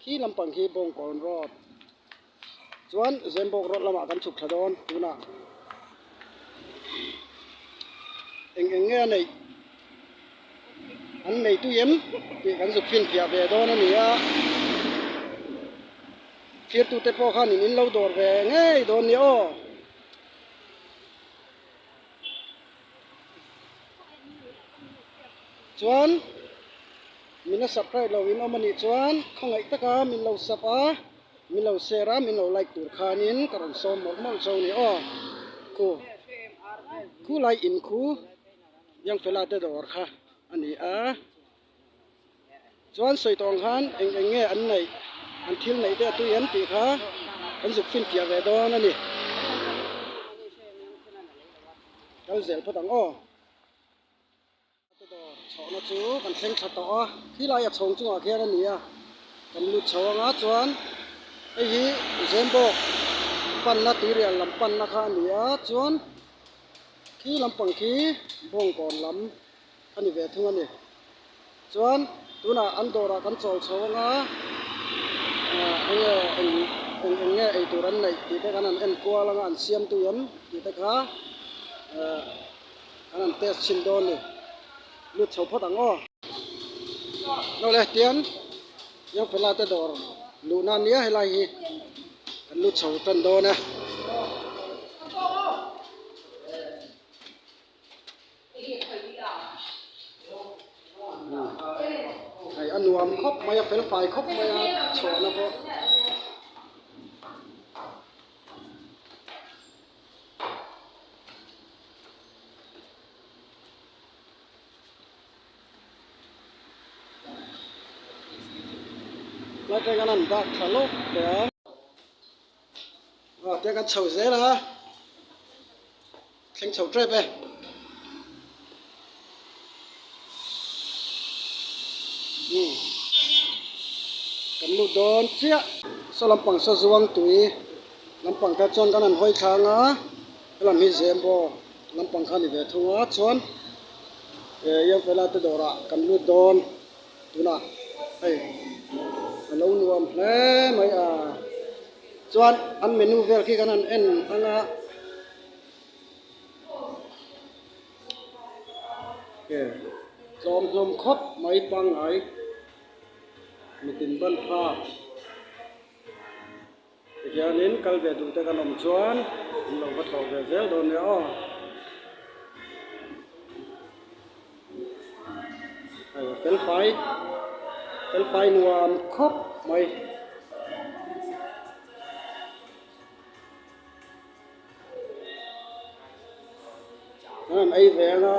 khi lampang khi Bawngkawn road chuan Zembawk road lamah kan chhuk thla dawn tunah eng eng nge a neih an nei tui em tih kan zuk finfiah ve dawn a ni a, thirtu te pawh khan in in lo dawr ve ngei dawn ni aw. chuan min la sap raih loh in awm a nih chuan khawngaih taka min lo sap a min lo share a min lo like tur khanin ka rawn sawm mawlh mawlh chu a ni aw khu khulai in khu Yangfela te dawr kha a ni a. Chuan sawi tawng khan eng eng nge an neih, an thil neih te a tui em tih kha kan zuk fin tiah ve dawn a ni. Kal zel phawt ang aw. Hmate dawr chhohna chu kan thleng tha tawh a, khilai a chhawng chungah khian a ni a, kan lut chho anga chuan hei hi Zembawk panna Tirial lam panna kha a ni a, chuan khi lampang khi Bawngkawn lam. a ni ve thung a ni. Chuan tunah an dawrah kan chawl chho anga eng nge eng eng eng nge eitur an neih tih te kan han enkual anga an siamtu em tih te kha kan han test thin dawn a ni. Lut chho phawt ang aw. Nawh le tian Young Fella te dawr luh nan nia helai hi kan lut chho tan dawn e. hei a nuam khawp mai a fel fai khawp mai a chhuahna pawh hla atanga an dah tha lawk teh ang. Tia kan chho zel a, thleng chho tep e. Kan lut dawn chiah. Saw lampang saw zuang tui lampang kha chuan kan han hawi thlâng a, helam hi Zembo lampang kha a ni ve thung a, chuan Ianfela te dawrah kan lut dawn. Tunah hei ka lo nuam hle mai a, chuan an menu vel khi khan an en ang a, ke tlawm hlawm khawp mai pangngai mitin ban tha. Tihianin kal ve duh te kan awm chuan an lo va thlawh ve zel dawn nia aw. Hei felfai felfai nuam khawp mai. An ei ve ang a.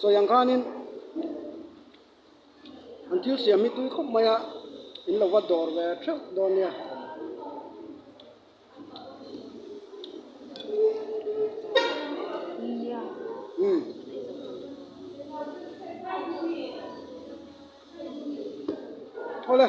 sawi ang khanin an thil siam hi tui khawp maia in lo va dawr ve theuh dawn nia umm awle.